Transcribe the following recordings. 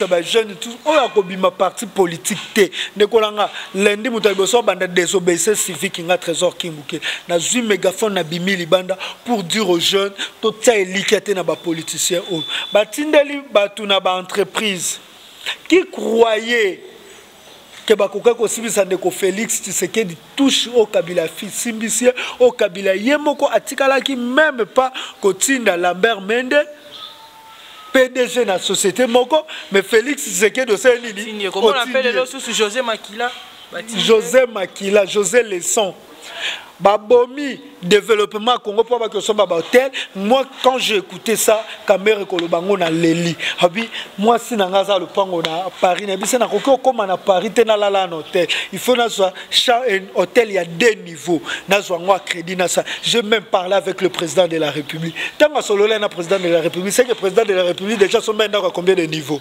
ba jeune tout oyo akobima parti politique te ndeko na nga lundi moto ya liboso abanda désobéissance civique nga trésor kimbuke nazwi mégaphone na bimi libanda pour dire aux jeunes totia elikya te na bapoliticien oyo batindeli bato na baentreprise qui croyait que bakoka kosilisa ndeko Felix Tshisekedi touche au Kabila simbisier au Kabila ye moko atikalaki même pas kotinda Lambert Mende PDG na société moko mais Felix Tshisekedi osali nini José Makila José Makila José Leson babomi développement ya congo mpo abaki osomba bahotel moi quand j'ai écouté ça kamere koloba ngo na leli abi mwasi na ngai aza lopango na paris nayebi se nakoki okóma na paris te nalala na hotel il faut nazwa hotel ya deux niveau nazwa yango acrédit na sa je même parlé avec le président de la république ntango asololai na président de la république seke président de la république déjà asombai ndako ya combien de niveau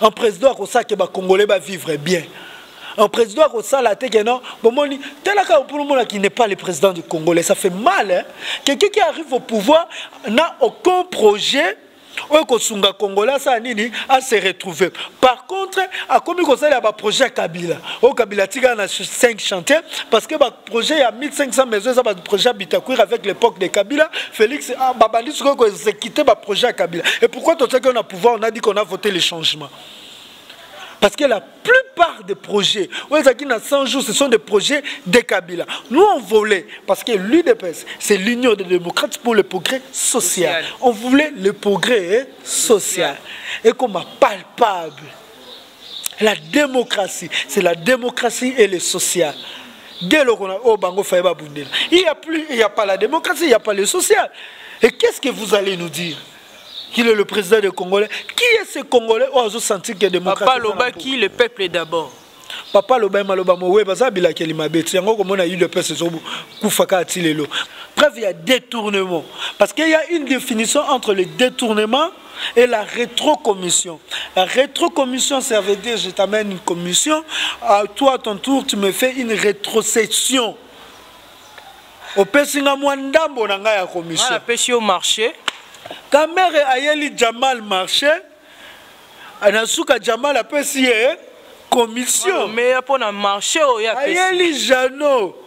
un président akosala ke bacongolais bavivre bien un président akosala te ke non bomoni talaka mpona omona qui n'est pas le président du congolais ça fait mal hein? quelqu'un qui arrive au pouvoir n'a aucun projet oyo kosunga congolais asala nini ase retrouve par contre akomi kosalela baprojet ya kabila oyo kabila atikala na 5 chantier parce que projet ya 1500 maison eza baprojet ya bitakwir avec l'époque de kabila félix ah, babandi sikoyo koexécute baprojet ya kabila et pourquoi totiaki yo na pouvoir on a dit qu'on a voté le changement parce que la plupart des projets oyo ezalaki na 100 jours ce sont des projets de kabila nous on voulait parce que l'udps c'est l'union des démocrates pour le progrès social, social. on voulait le progrès social, social. ekoma palpable la démocratie c'est la démocratie et le social nde eloko na oyo bango faye babundela il y a plus il y a pas la démocratie il y a pas le social et qu'est ce que vous allez nous dire qu'il est le président des congolais qui est ce congolais oyo azosentir que démocratie papa alobaki le peuple d'abord papa aloba ye maloba mowe baza bilakeli mabe ti yango okomona udps ezokufa kaka ti lelo preuve ya détournement parce qu'il y a une définition entre le détournement et la rétrocommission. La rétrocommission, ça veut dire je t'amène une commission, à toi à ton tour, tu me fais une rétrocession. opesi nga mwa ndambo na ngai ya commission apesi yo marché kamere ayeli jamal marché na suka jamal apesi ye commission meya mpo na marché oyo ayeli jano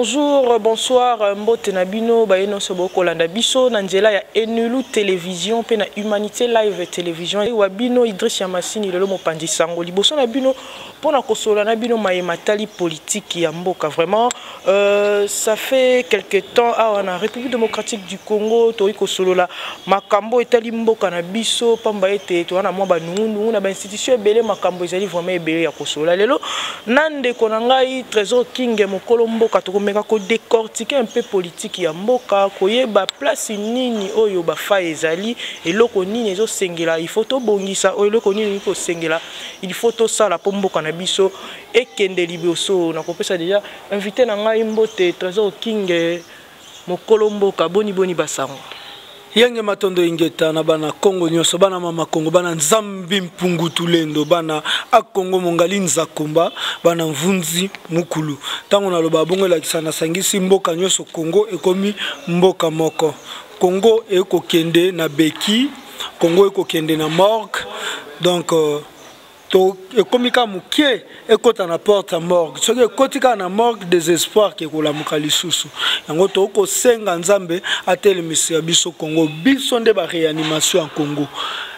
bonjour bonsoir mbote na bino baye nyonso bokolanda biso na nzela ya enulu télévision mpe na humanité live télévision wa bino idris ya masini lelo mopanzi sango liboso na bino Mpo na kosolola na bino maye matali politiki ya mboka vraiment euh, ça fait quelque temps awa na république démocratique du congo tokoki kosolola makambo etali mboka na biso mpamba ete toza na mwa banungunungu na bainstitution ebele makambo ezali vraiment ebele ya kosolola lelo na ndeko na ngai trésor kinge mokolo mboka tokomeka kodecortike mpe politiki ya mboka koyeba place nini oyo bafai ezali eloko nini ezosengela il faut tobongisa oyo eloko nini okoki kosengela il faut tosala mpo mboka na biso ekende liboso na kopesa deja invité na ngai mbote trésor kinge mokolo mboka boni boni basango yenge matondo ingeta na bana kongo nyonso bana mama kongo bana nzambi mpungu tulendo bana akongo mongali nzakomba bana mvunzi mukulu ntango naloba bongo elakisa nasangisi mboka nyonso kongo ekomi mboka moko Congo ekokende na beki, Congo ekokende na morgue. Donc euh, to ekomi kaka moke ekota na porte ya morgue soki ekoti kaka na morgue désespoir ke ekolamuka lisusu yango tokoki kosenga nzambe atelemisa ya biso congo biso nde baréanimation ya congo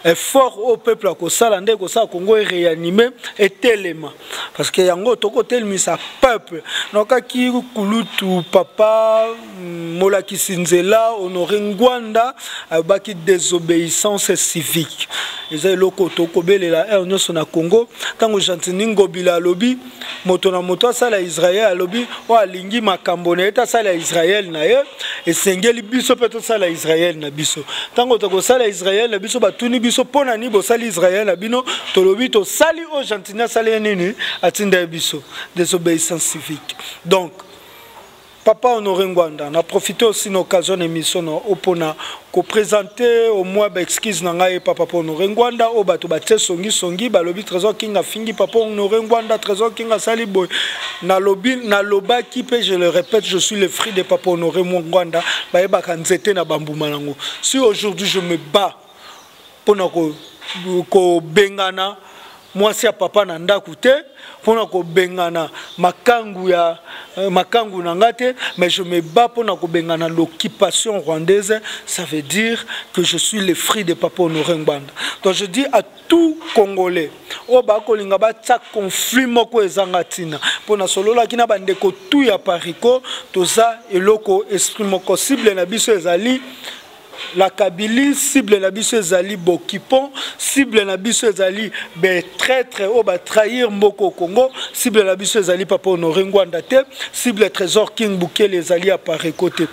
effort oyo peuple akosala nde ekosala congo eréanime etelema parce que yango tokotelemisa peuple nokaki kulutu papa mm, molakisi nzela honore ngwanda ayobaki désobéissance civique eza eloko tokobelela heure nyonso na congo ntango gentini ngobila alobi moto na moto asala israel alobi oyo alingi makambo na ye te asala israel na ye esengeli biso mpe tosala israel na biso ntango tokosala israel na biso batuni biso mpo na nini bosali israel na bino tolobi tosali oyo Sini asali ye nini atinda ye biso désobéissance civique donc papa honore ngwanda na profite aussi na occasion na émission na o mpona kopresente au moins baexcuse na ngai epa papa honore ngwanda oyo bato batie songisongi balobi trésor king afingi papa honore ngwanda trésor king asali boye nalobi nalobaki mpe je le répète je suis le fruit de papa honore ngwanda bayebaka nzete na bambuma yango si aujourd'hui je me bats mpo na kobengana ko mwasi ya papa na ndako te mpo na kobengana makangu ya euh, makangu na ngai te mais je me bats mpo na kobengana l'occupation rwandaise ça veut dire que je suis le fruit de papa honore ngbanda donc je dis à tout congolais oyo bakolinga batya conflit moko ezanga ntina mpo nasololaki na bandeko tu ya parico toza eloko esprit moko cible na biso ezali la Kabylie cible na biso ezali Bokipon cible na biso ezali be traître au ba trahir mboko Congo cible na biso ezali papa Honoré Ngwanda te cible Trésor King Bukele ezali à Pareco te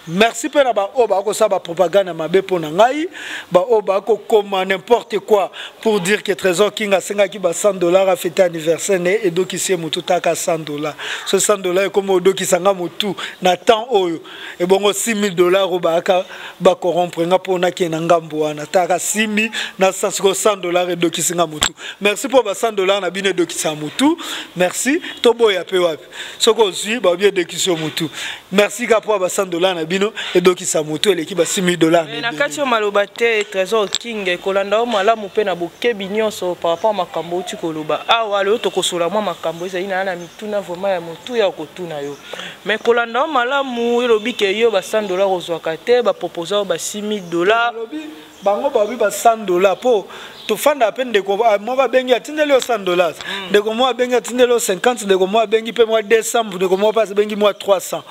merci mpe na baoyo bakosala bapropagande ya mabe mpo na ngai baoyo bakokoma n'importe quoi pour dire que trésor king asengaki ba 100 dollar afete anniversaire ne edokisi ye motu taka 100 dollar so 100 dollar ekoma odokisa nga motu na temps oyo ebongo 6000 dollars oyo bayaka bacorompre nga mpo nake na ngambo wana taka 6000 na sasiko 100 dollars edokisi nga motu merci mpo ba 100 dollars na bino edokisa motu merci toboya mpe wapi soki ozwi baobi edokisi yo motu merci ka mpo ba 100 dollars na bino edokisa motu eleki ba 6000 dollars na kati yo maloba te trésor king ekolanda yo malamu mpe na bokebi nyonso par rapport makambo outi koloba awa lelo tokosola mwa makambo ezali na ya na mituna vraiment ya motu ya kotuna yo Mais kolanda yo malamu yo lobi ke yo ba 100 dollars ozwaka te ba proposa yo ba 6000 dollars. Lobi bango ba bi ba 100 dollars po tofanda pe ndeko ah, moko abengi atindeli yo 100 dollars mm. ndeko moko abengi atindeli yo 50 ndeko moko abengi pe mwa 200 ndeko moko pe abengi mwa 300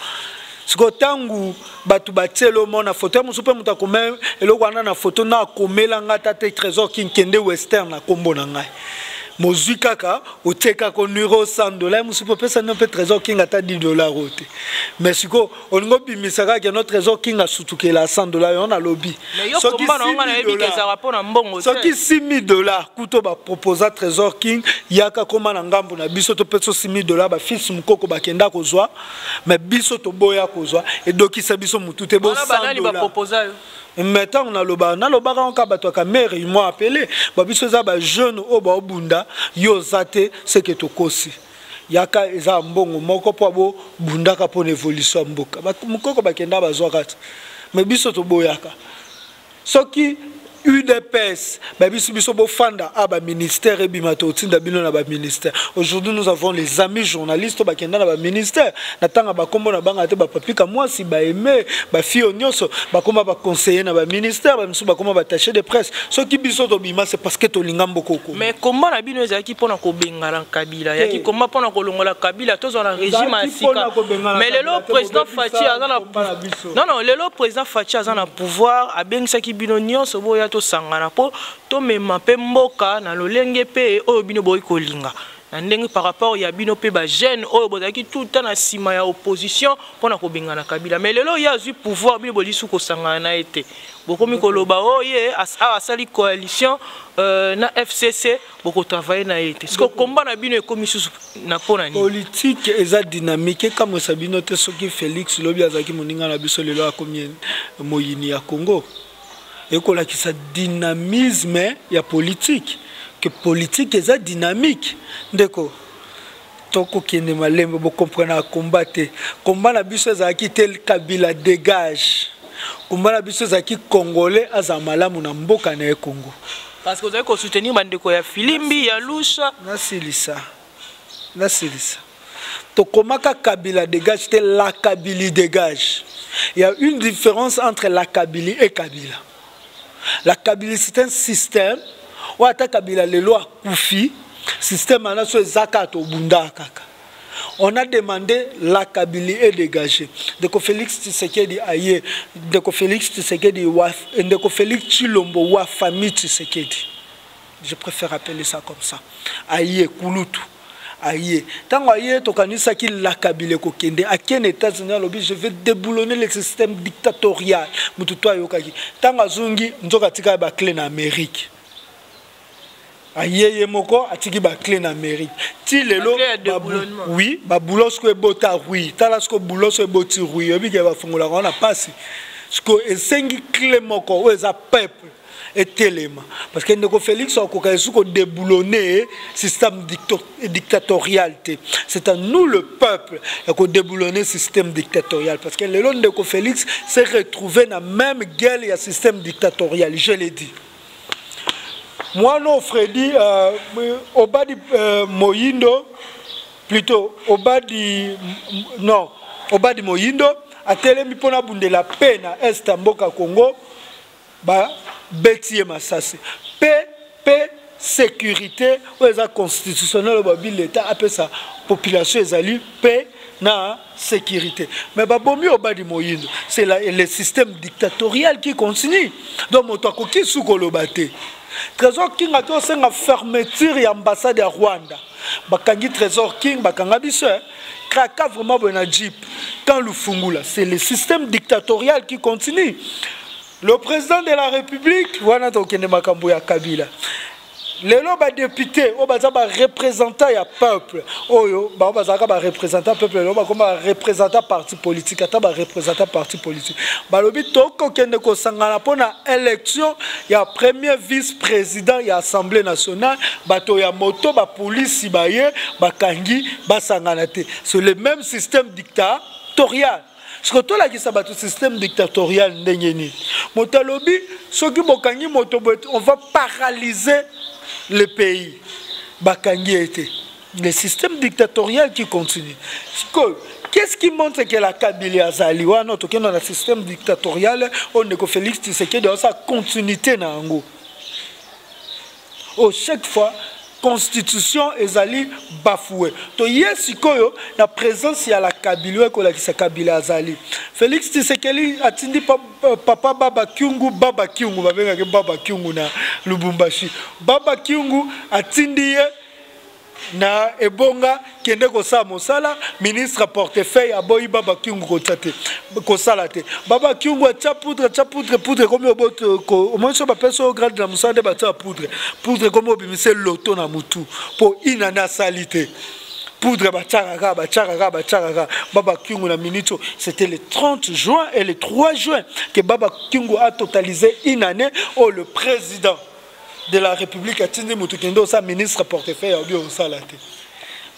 sikoyo ntango bato batie elomo na foto ya mosusu mpe moto akoma eloko wana na foto na akomela ngai ata te trésor kinkende western na nkombo na ngai mozwi kaka otie kaka onwiro 100 dola mosusu mpe opesa nio mpe trésor king ata 10 dolar oyo te mais sikoyo olingi obimisa kaka keno trésor king asutukela 100 dola yo nalobi soki 6000 dolar kuto baproposa trésor king yaka koma na ngambo na biso topesa 6000 dolar bafils mokoko bakenda kozwa me biso toboya kozwa edokisa biso motu te me ntango nalobaka nalobaka yango kaka bato ya kamere imo apele ba biso eza bajeune oyo baobunda yo oza te seke tokosi yaka eza mbongo moko mpo abobundaka mpo na evolution ya mboka mokoko bakenda bazwaka te me biso toboyaka soki udps babisi biso bofanda a ah, baministère ebima totinda bino na baministère aujourd'hui nous avons les amis journalistes bakenda na baministère na ntango bakombo na banga te bapapika mwasi baeme bafio nyonso bakoma baconseiller na baministère bamisu bakoma batache de presse soki biso tobima c'est parce que tolinga mbokoko mais komba na bino ezalaki mpo na kobengana kabila yaki komba mpo na kolongola kabila tozwa na régime ya sika mais lelo président faci aza na Non, non, lelo président Fatshi aza na pouvoir, abengisaki bino nyonso boya tosangana mpo tomema mpe mboka na lolenge mpe oyo bino boyi kolinga na ndenge par rapport ya bino mpe bajeune oyo bozalaki tout le temps na nsima ya opposition mpo na kobengana kabila mais lelo ye azwi pouvoir bino bolisu kosangana na ye te bokomi koloba oyo oh, ye awa asali coalition euh, na fcc boko travailler na ye te siko komba na bino ekomi susu na mpo na nini politike eza dynamique ekamwisa bino te soki félix lobi azalaki moninga na biso lelo akomi moyini ya congo ekolakisa dynamisme ya politike ke politike eza dynamique ndeko tokokende malembe bokomprenaka komba te komba na biso ezalaki te kabila dégage komba na biso ezalaki congolais azala malamu na mboka na ye congo parce que ozali kosoutenir bandeko ya filimbi ya lusha nasilisa nasilisa tokomaka kabila dégage te la kabili dégage il y a une différence entre la kabili et kabila la kabili c'est un système oyo ata kabila lelo akufi système wana so eza kaka tobundaka kaka on a demandé la kabili est dégagé ndeko félix tshisekedi aye ndeko félix tshisekedi ndeko félix tshilombo wa famille tshisekedi je préfère appeler ça comme ça aye kulutu aye ntango aye tokanisaki lakabila ekokende ake na états-unis alobi je vais déboulonner le système dictatorial motu to ayokaki ntango azongi nzoka atikaki baclé na amérique aye ye moko atiki baclé na amérique ti lelo oui babulo siko ebota rui tala siko bulo so eboti rui oyebi ke bafungolaka wana mpasi siko esengi clé moko oyo eza peuple etelema parce que ndeko félix akoka esu kodeboulonne système dictatorial te c'est à nous le peuple ya kodeboulonne système dictatorial parce que lelo ndeko félix s'est retrouvé na même gueule ya système dictatorial je l'ai dit mwana fredi euh, obadi euh, moyindo plutôt obadi non obadi moyindo atelemi mpo nabundela mpe na est ya mboka congo ba beti ye masasi pe pe sécurité oyo eza constitutionnel babi l'état apesa population ezali pe na sécurité mais babomi obadi moyindo c'est le système dictatorial qui continue donc moto akoki su koloba te trésor king ake osenga fermeture ya ambassade ya rwanda bakangi trésor king bakanga biso eh? Kraka vraiment boye na jeep quand Lufungula c'est le système dictatorial qui continue le président de la république wana tokende makambo ya kabila lelo badepute oyo baza barepresentant ya peuple oyo bango bazalaka barepresentant peuple lelo bakoma barepresentant parti politique ata ba représentants parti politique balobi tokokende kosangana mpo na élection ya premier vice président ya assemblée nationale bato ya moto bapolisi baye bakangi basangana te c'est le même système dictatorial siko tolakisa bato système dictatorial ndenge nini moto alobi soki bokangi moto boye on va paralyser le pays bakangi ye te le système dictatorial qui continue sikoyo qu'est-ce qui montre que la kabili azali wana tokenda na système dictatorial oyo ndeko félix tisekedi aosa continuité na yango o chaque fois constitution ezali bafoue toye sikoyo na présence ya la kabili oyo ekolakisa kabili azali félix tisekeli atindi pa, pa, papa baba kiungu baba kiungu babengaki baba kiungu na lubumbashi baba kiungu atindi ye na ebonga kende kosala mosala ministre portefeuille aboyi baba kiungu kotya te kosala te baba kiungu atya poudre atya poudre poudre ekomi omoni so bapesi oyo grade na mosala nde batya poudre poudre ekomi obimise loto na motu mpo ina nde asali te poudre batyaka kaka batyaka kaka batyaka kaka baba kiungu na minute oyo c'était le 30 juin et le 3 juin que baba kiungu a totalise une année oyo le président de la république atindi moto kende osa ministre portefeuille obi osala te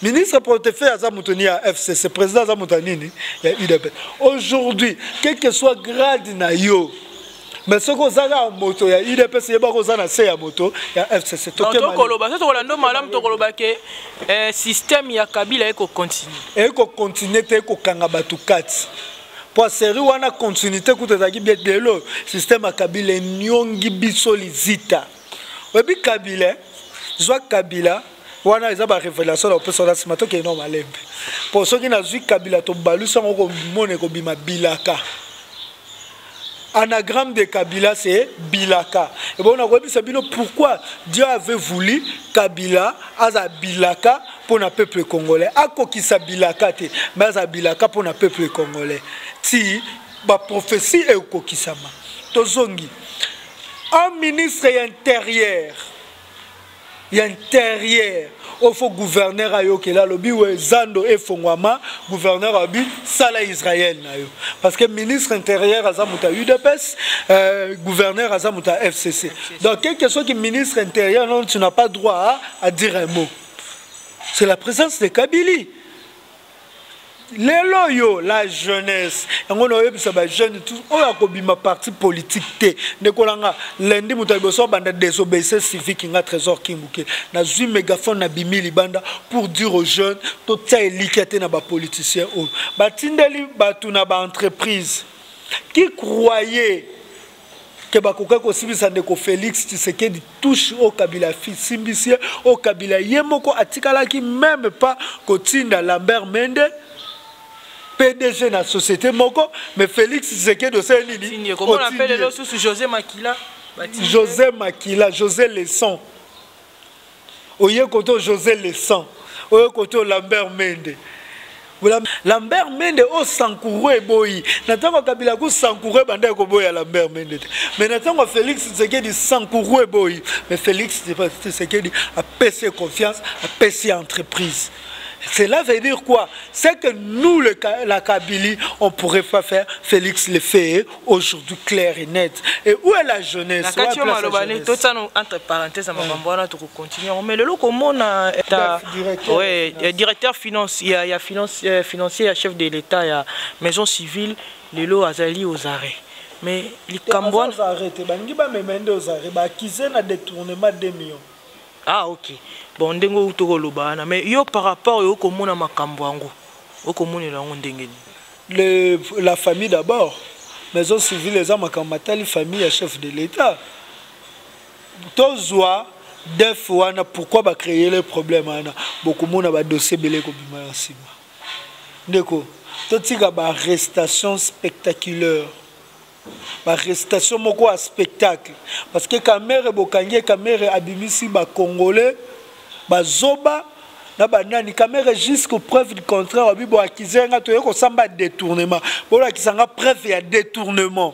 ministre portefeuille aza moto ni ya fcc président aza moto ya nini ya udp aujourd'hui quel que soit grade na yo mais soki oza kaka moto ya udps yebaka oza na se ya moto ya fcc tokoloba so tokola ndo malamu tokoloba ke eh, système ya kabila ekocontinue ekocontinue te ekokanga bato kati mpo serie wana continuité kutu ezalaki bie lelo système ya kabila enyongi biso lizita oyebi kabila zwa kabila wana eza barévélation na kopesa wana nsima tokei nao malembe mpo soki nazwi kabila tobalusi yango komona ekobima bilaka Anagramme de Kabila c'est Bilaka. Et bon, on a remis Sabino pourquoi Dieu avait voulu Kabila aza Bilaka pour le peuple congolais. Ako qui sa Bilaka te, mais aza Bilaka pour le peuple congolais. Si ba prophétie est au kokisama. Tozongi. Un ministre intérieur ya interieur oyo fo gouverneur ayokela alobi we zando efongwama gouverneur alobi sala israel na yo parce que ministre intérieur aza moto ya udps euh, gouverneur aza moto ya fcc donc quelque soit que ministre intérieur non tu n'as pas droit à, à dire un mot c'est la présence de kabili lelo oyo la jeunesse yango naoyebisa bajeune tout oyo akobima parti politique te ndeko na nga lundi moto ya liboso abanda désobéissance civique nga trésor kimbuke nazwi mégaphone na bimi libanda pour dire aux jeunes totia elikya te na bapoliticien oyo batindeli bato na baentreprise qui croyait que bakokaki kosibisa ndeko félix tshisekedi touche oyo kabila asimbisi ye oyo kabila ye moko atikalaki meme pas kotinda lambert mende pdg na société moko mais félix tshisekedi osali nini josé makila josé leson oye koto josé lesan oye koto lambert mende lambert mende oyo sankouro eboyi na ntango ya kabila ku sankouro ebandaki koboya lambert mende te mais na ntango ya félix tshisekedi sankouro eboyi mais félix tshisekedi apesi ye confiance apesi ye entreprise Cela veut dire quoi C'est que nous, le, la Kabylie, on ne pourrait pas faire Félix le fait aujourd'hui clair et net et où est la jeunesse na kati yo maloba nde totia no entre parenthèse ya makambo wana tokocontinue yango mais lelo komona directeur finance ya, ya finance, euh, financier ya chef de l'état ya maison civile lelo azali aux arrêts mais likambo wana balingi bamema nde aux arrêts baakize na détournement 2 millions ah ok bon ndenge outi okoloba wana mais yo par rapport yo okomona makambo yango okomonela yango ndenge nini Le, la famille d'abord. Maison civile eza makambo matali famille ya chef de l'État. Tozwa def wana pourquoi ba créer le problème wana bokomona ba dossier bele kobima na nsima. Ndeko, totika ba arrestation spectaculaire. ba restation moko ya spectacle parce que kamere bokangi kamere abimisi ba congolais bazoba na banani kamere jusqu'au preuve du contraire wabi boakize nga toye kosamba détournement bolakisa nga preuve ya détournement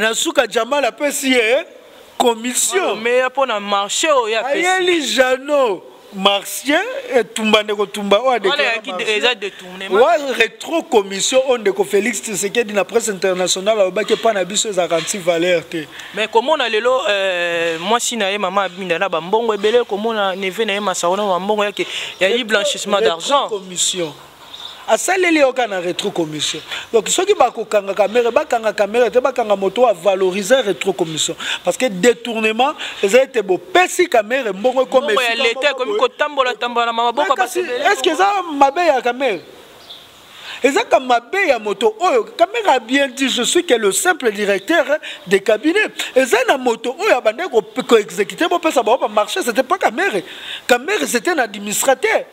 na suka jamal apesi ye commission meya mpo na marché oyo ayeli jano martien etumba ndeko tumba oyo aderetro commission oyo ndeko félix tisekedi na presse internationale alobaki epai na biso ezalaka anti valeur te mais komona lelo euh, mwasi na ye mama abinda na bambongo ebele komona neve na ye masaro na bambongo yake yayi blanchissement d'argent commission asaleli yoka na retro commission donc soki bakokanga kamere bakanga kamere te bakanga moto avalorize retro commission parce que détournement eza ete bopesi kamere mbongo ekomeestce eza mabe ya kamere ezaka mabe ya moto oyo kamere a bien dit je suis que le simple directeur de cabinet eza na moto oyo abandaki koexécute bopesa bango bamarché c'était pas kamere kamere c'était na administrateur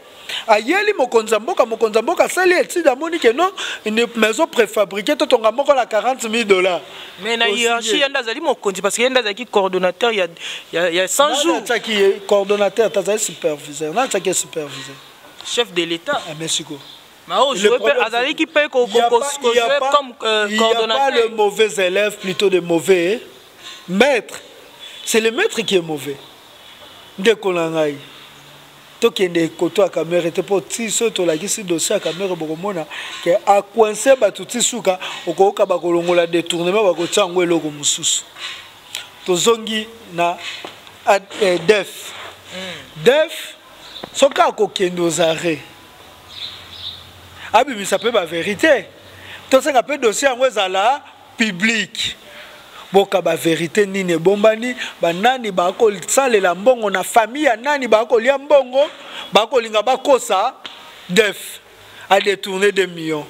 ayeli mokonzi ya mboka mokonzi ya mboka asali etide amoni ke non maison préfabriqué totonga moko na 40 000 dollars mais na hiérarchie ye nde azali mokonzi parce que ye nde azalaki coordonnateur ya, ya, ya 100 jours atyaki ye coordonnateur tazali superviseur na atyaki ye superviseur chef de l'état ah, mais sikoyo azalaki mpe comme euh, coordonnateur le mauvais élève plutôt de mauvais maître c'est le maître qui est mauvais ndeko na ngai tokende koto ya kamere te mpo ti soki tolakisi dossier ya kamere bokomona ke akoinse bato ti suka okoyoka bakolongola détournement bakotia yango eloko mosusu tozongi na eh, def hmm. def soki akokende ozare abimisa mpe baverité tosenga mpe dossier yango ezala public boka ba verite nini ebombani banani bakosalela mbongo na famille ya nani bakolia mbongo bakolinga bakosa def a détourner 2 millions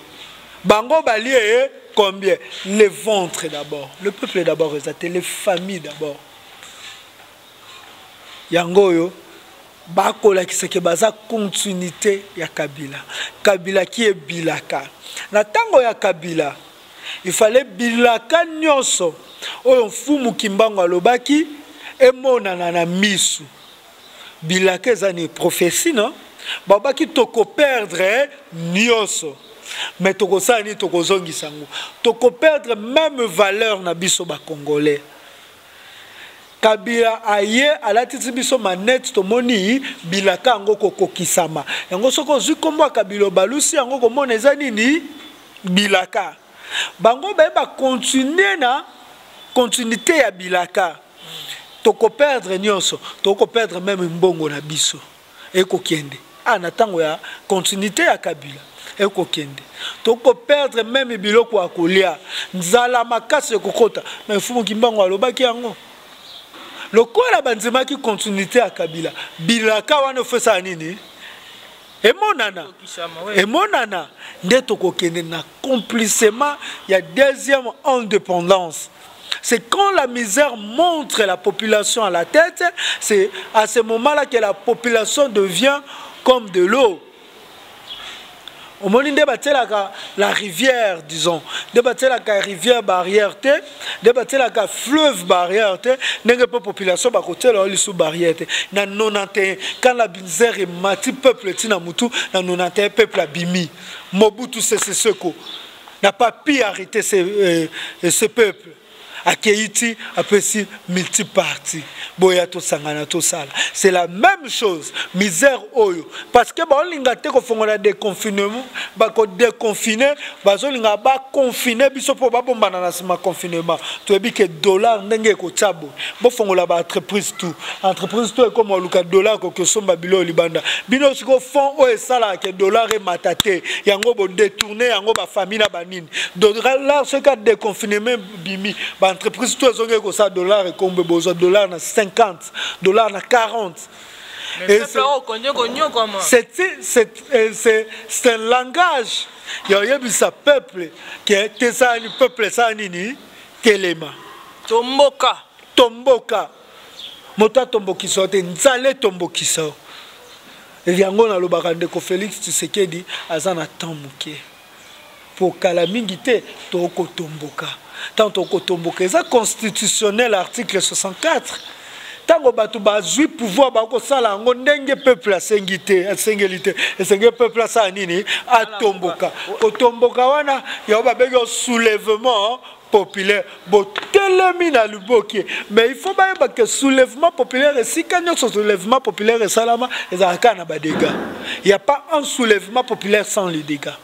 bango balie eh, combien le ventre d'abord le peuple d'abord eza te les familles d'abord yango oyo bakolakisa ke baza continuité ya kabila kabila ki ebilaka na ntango ya kabila il fallait bilaka nyonso oyo mfumu kimbangu alobaki emonana na misu bilaka eza ni prophetie non babaki tokoperdre nyonso me tokosala nini tokozongisa yango tokoperdre meme valeur na biso bacongolais kabila aye alatisi biso manete tomoni bilaka yango kokokisama yango soki ozwi nkombo ya kabila obalusi yango komona eza nini bilaka bango baye bakontinue na continuité ya bilaka tokoperdre nyonso tokoperdre meme mbongo na biso ekokende a ah, na ntango ya continuité ya kabila ekokende tokoperdre meme biloko ya kolia nzala makasi ekokota me fumu kimbango alobaki yango lokola bandimaki continuité ya kabila bilaka wana ofesaka nini emonana emonana nde tokokende na complissement ya deuxième indépendance c'est quand la misère montre la population à la tête c'est à ce moment là que la population devient comme de l'eau omoni nde batielaka la rivière disons nde batielaka rivière barrière te nde batielaka fleuve barrière te ndenge mpe population bakotiela yo lisu barrière te na 91 quand la binzer emati peuple ntina motu na 91 peuple abimi mobutu sese seko n'a pas pu arrêter ce, euh, ce peuple akei ti apesi multipartie boya tosangana tosala c'est la même chose misère oyo parce que baolinga te kofongola déconfinement bakodeconfine bazolinga baconfine biso mpo babombana na nsima confinement toyebi ke dollar ndenge ekotya boye bofongola baentreprise tout entreprise to ekoma oluka dollar koki osomba biloko libanda bino siko fond oyo esalaka ke dollar emata te yango bodetourne yango bafamille na banini dollar soki adeconfinement bimi ba entreprise to ezongeli kosala dollar ekombe bozwa dollar na 50 dollar na 40 euh, c'est un langage ya oyebisa peuple ke tesala ni peuple esala nini telema tomboka tomboka moto atombokisa yo te nzala etombokisa yo yango nalobaka ndeko félix tshisekedi aza na temps moke mpo kala mingi te tokotomboka ntango tokotomboka eza constitutionnel article 64 ntango bato bazwi pouvoir bakosala yango ndenge peuple asengi te asengeli te esengeli peuple asala nini atomboka kotomboka wana yango babengi soulèvement populaire botelemi na liboki mais il faut bayeba ke soulèvement populaire esika nyonso soulèvement populaire esalama ezalaka kaka na badega il n'y a pas un soulèvement populaire sans les dégats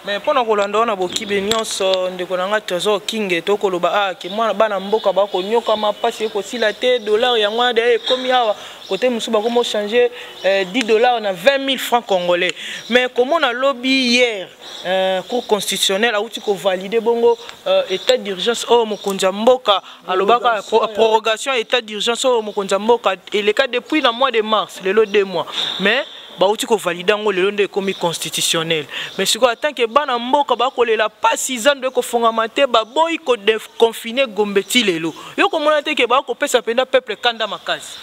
mais mpo na kolanda wana bokibe nyonso ndeko na ngai trésor okinge to koloba a ah, ke mwana bana mboka bakonyokama mpasi ekosila te dollar yango wana deye ekomi awa kote mosusu bakomi ochange 10 eh, dollar na 20 000 francs congolais mais komona lobi hier Euh, cour constitutionnelle auti kovalide bongo euh, état d'urgence oyo oh, mokonzi ya mboka alobaka prorogation ya état d'urgence oyo oh, mokonzi ya mboka eleka depuis na mois de mars lelo deux mois mais bauti kovalide yango lelo nde ekomi constitutionnel mais sikoyo atant ke bana mboka bakolela mpasi zando ekofongama te baboyi koconfine gombe ti lelo yo komona te ke bakopesa mpenza peuple kanda makasi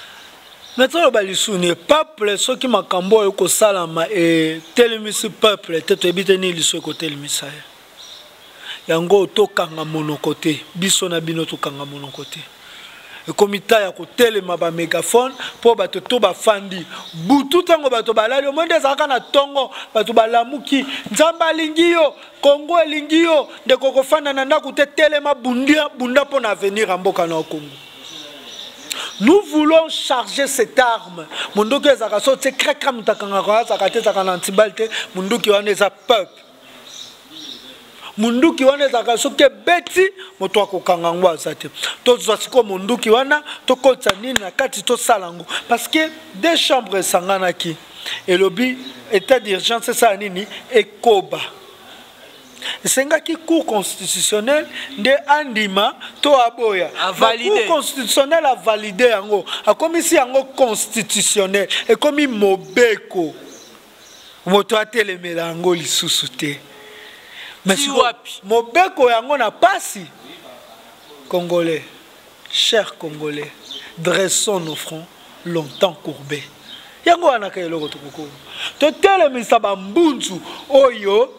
me toloba lisusu ne peuple soki makambo oyo ekosalama etelemisi peuple te toyebi te nini lisu ekotelemisa ye yango tokanga monoko te biso na bino tokanga monoko te ekomi ta ya kotelema bamegafone mpo bato to bafandi butu ntango bato balali omoi nde ezalaka na ntongo bato balamuki nzambe alingi yo kongo elingi yo ndeko kofanda na ndako te telema bunda mpo na avenir ya mboka na yo kongo nous voulons charger cette arme mondoki ezalaka so tie kraka moto akangaka azalaka te ezalaka na antibale te monduki wana eza peuple monduki wana ezalaka soki ebeti moto akokanga yango aza te tozwa sikoyo monduki wana tokotisa nini na kati tosala yango parce que deux chambres esanganaki elobi état d'urgence esala nini ekoba esengaki cour constitutionnel nde andima to aboya cour constitutionnel avalide yango akomisi yango constitutionnel ekomi mobeko moto atelemela yango lisusu te mobeko yango na pasi congolais Chers Congolais, dressons nos fronts longtemps courbés. yango wana ka eloko tokokoma totelemisa bambunzu oyo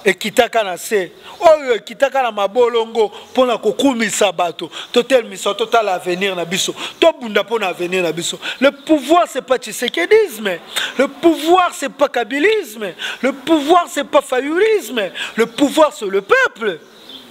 ekitaka na se oyo ekitaka na mabolongo mpo na kokumisa bato totelemisa totala avenir na biso tobunda mpo na avenir na biso le pouvoir c'est pas tshisekedisme le pouvoir c'est pas kabilisme le pouvoir c'est pas fayulisme le pouvoir c'est le peuple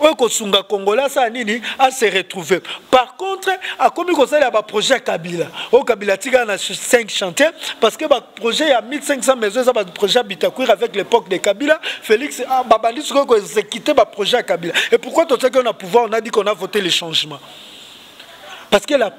oyo kosunga congolais asala nini ase retrouve par contre akomi kosalela baprojet ya kabila oyo kabila atikala na 5 chantier parce que baprojet ya 1500 maison eza baprojet ya bitakwir avec l'époque de kabila félix ah, babandi sikoyo koexécute baprojet ya kabila et pourquoi totiaki yo na pouvoir on a dit qu'on a voté le changement parce que la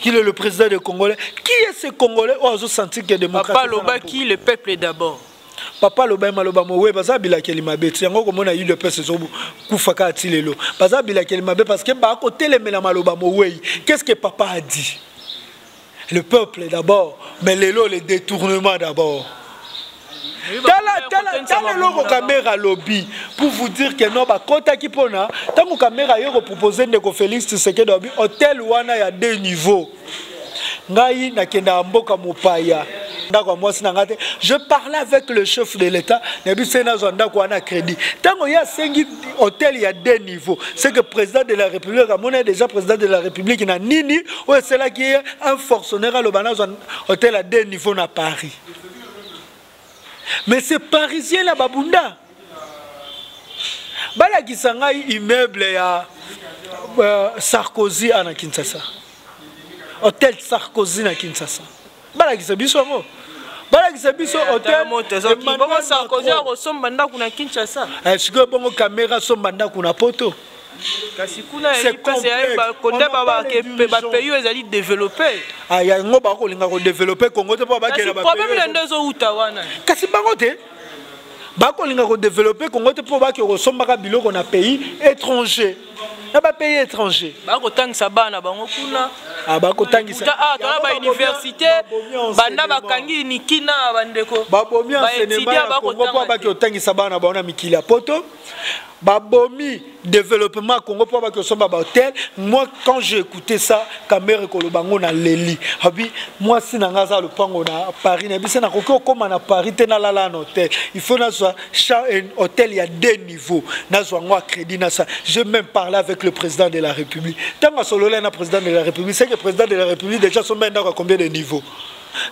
Qu'il est le président des Congolais Qui est ce Congolais Oh, azo sentir que démocratie. Papa Loba, qui le peuple d'abord papa aloba ye maloba mowe baza bilakeli mabe ti yango okomona udps ezokufa kaka ti lelo baza bilakeli mabe parce que bakotelemela maloba mowei qu'est ce que papa a dit le peuple d'abord mais lelo le détournement d'abord tala eloko kamera alobi pour vous dire que non bakotaki mpona ntango kamera aye kopropose ndeko félix tshisekedi alobi hotel wana ya deux niveau ngai nakendaka mboka mopaya ndako ya mwasi na ngai te je parle avec le chef de l'état nayebi se nazwa ndako wana crédit ntango ye asengi hôtel ya deux niveau ce que président de la république amoni déjà président de la république na nini oyo esalaki ye un fortionnaire aloba nazwa hôtel ya deux niveau na paris mais c'est parisien na babunda balakisa ngai immeuble ya euh, sarkozy ana kinshasa hotel sarkozy na kinshasa balakisa biso yango balakisa biso hotelbongo sarkozy akosomba ndako na kinshasa eh, sikoyo bongo kamera asomba ndako na poto kasi kuna ezali mpasi ya kota bapays oyo ezali developpe ah, yango bakolinga kodeveloppe kongo te mpo bakela problème na nde ezowuta wana kasi bango te bakolinga kodeveloppe kongo te mpo bake kosombaka biloko na pays étranger na bapays étranger bakotangisa bana bango kuna ah, bakotangisa ah, tala bauniversité banda bakangi nikina bandeko babomi enseignement ya kongo mpo bake kotangisa bana bango na mikili ya poto babomi développement ya congo mpo baki osomba bahotel moi quand j'ai écouté ça kamere koloba ngo na leli abi mwasi na ngai aza lopango na paris nayebi se nakoki okóma na paris te nalala na hotel il faut nazwa hotel ya deux niveau nazwa ngo acrédit na sa je même parlé avec le président de la république ntango asololai na président de la république seke président de la république déjà asombai ndako ya combien de niveau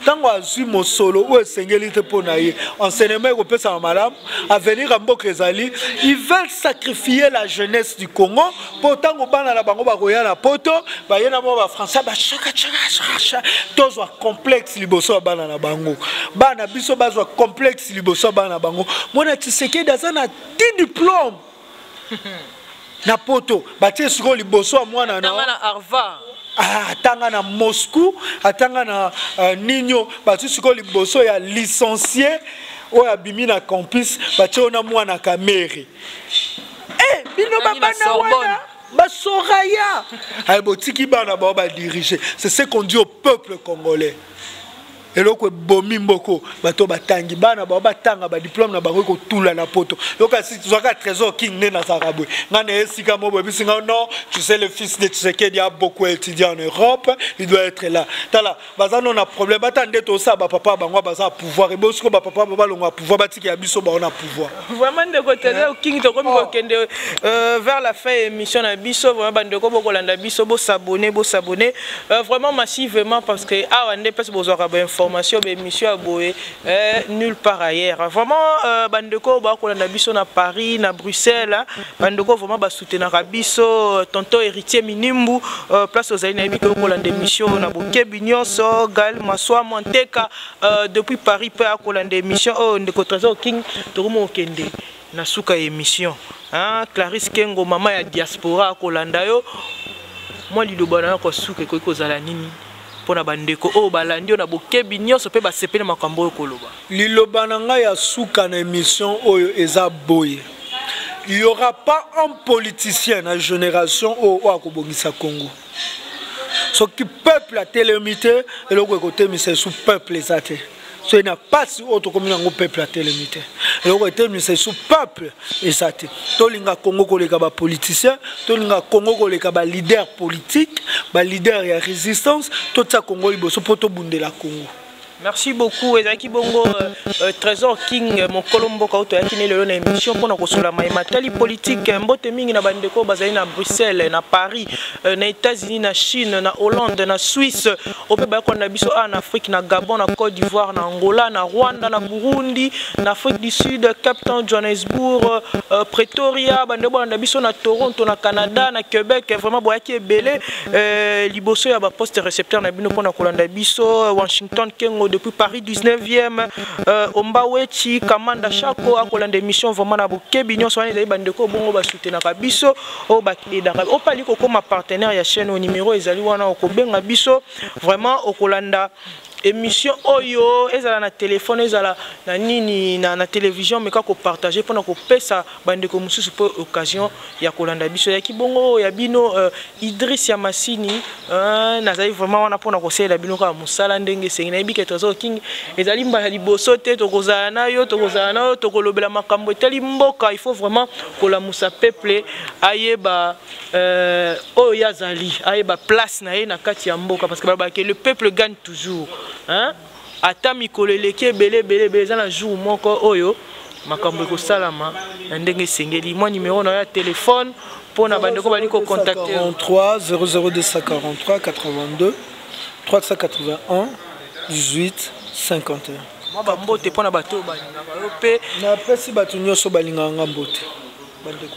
ntango azwi mosolo oyo esengeli te mpo na ye enseignement ekopesama malamu avenir ya mboka ezali ils veulent sacrifier la jeunesse du congo mpo ntango bana na bango bakoya na poto baye na bango bafrançais bashakachakachaka tozwa complexe liboso ya bana na bango bana biso bazwa complexe liboso ya bana na bango mwana tisekedi aza na ti diplome na poto batie sikoyo liboso ya mwana na ah, atanga na moscou atanga na uh, ninio batie sikoyo liboso ya licencie oyo abimi na campus batie oyo na mwana kamere hey, eh, bino babana wana basoraya aye botiki bana bao badirige c'est ce qu'on dit au peuple congolais eloko ebomi mboko bato batangi bana bao batanga badiplome na bango ekotula na poto yokasi zwaka trésor king nde nazalaka boye ngai na esika mo boyebisi ngai non tu sais le fils de tshisekedi a beaucoup étudié en europe il doit être là tala baza no na problème bata nde tosala bapapa bango baza pouvoir ebosiko bapapa bango balongo ya pouvoir batikela biso bango na pouvoir vraiment ndeko tele eh. okingi tokomi oh. kokende euh, vers la fin ya émission na biso vraiment bandeko bokolanda biso bosabone bosabone euh, vraiment massivement parce que awa nde mpasi bozwaka bainformation baémission ya boye euh, nulle part ailleurs vraiment bandeko bakolanda biso na paris na bruxelles bandeko vraiment basoutenaka biso tonton héritier minimbu place ozali nayebi ke okolanda émission na bokebi nyonso gal maswa monteka Euh, depuis paris mpe akolanda émission oyo oh, ndeko trésor king tokomi kokende na suka ya émission clarisse kengo mama ya diaspora akolanda yo mwa liloba na yo kosuka ekoki kozala nini mpo na bandeko oyo oh, balandi yo na bokebi nyonso mpe basepeli makambo oyo koloba liloba na ngai ya suka na émission oyo eza boye il y aura pas un politicien na génération oyo oyo akobongisa congo soki peuple atelemi te eloko ekotemisa esu peuple eza te soki na mpasi oyo tokomi nango peuple atelemi te eloko etelemisa esu peuple eza te tolinga kongo koleka bapoliticien tolinga kongo koleka balider politique balider ya résistance totya kongo liboso mpo tobundela kongo merci beaucoup ezalaki bongo euh, euh, trésor king euh, mokolo mboka oyo toyaki ne lelo na émission mpona kosola maye matali politike mbote mingi na bandeko oyo bazali na bruxelles na paris na états-unis na chine na hollande na suisse oyo mpe bayakona na biso awa na afrique na gabon na côte d'ivoire na angola na rwanda na burundi na afrique du sud cap town johannesbourg pretoria bandeko bolanda biso na toronto na canada na québec vraiment boyaki ebele Euh, liboso ya baposte recepteur na bino mpona kolanda biso euh, washington kengo depuis paris 19e euh, omba wechi kamanda shako akolanda émission vraiment na bokebi nyonso wana ezali bandeko bongo basutenaka biso oyo baedaka opali kokoma partenaire ya chaîne oyo numero ezali wana okobenga biso vraiment okolanda émission oyo ezala na telefone ezala na nini na, na television meka kopartage mpona kopesa bandeko mosusu mpo occasion ya kolanda biso yaki bongo ya bino uh, idris ya masini uh, nazali vraiment wana mpona kosalela bino kaka mosala ndenge esengi nayebi ke trésor king ezali mbala liboso te tokozala na yo tokozala na yo tokolobela makambo etali mboka il faut vraiment kolamusa peuple ayeba Euh, oyo ye azali ayeba place na ye na kati ya mboka parce que balobaka ke le peuple gagne toujours hein? ata mikolo eleki ebele ebele ebele eza na jour moko oyo makambo ekosalama na ndenge esengeli mwa nimero na yo ya telefone mpo na bandeko bali kocontacte 00243 82 381 18 51 mwa bambote mpo na bato oyo balingaka yo mpe napesi bato nyonso balingaka nga mbote bandeko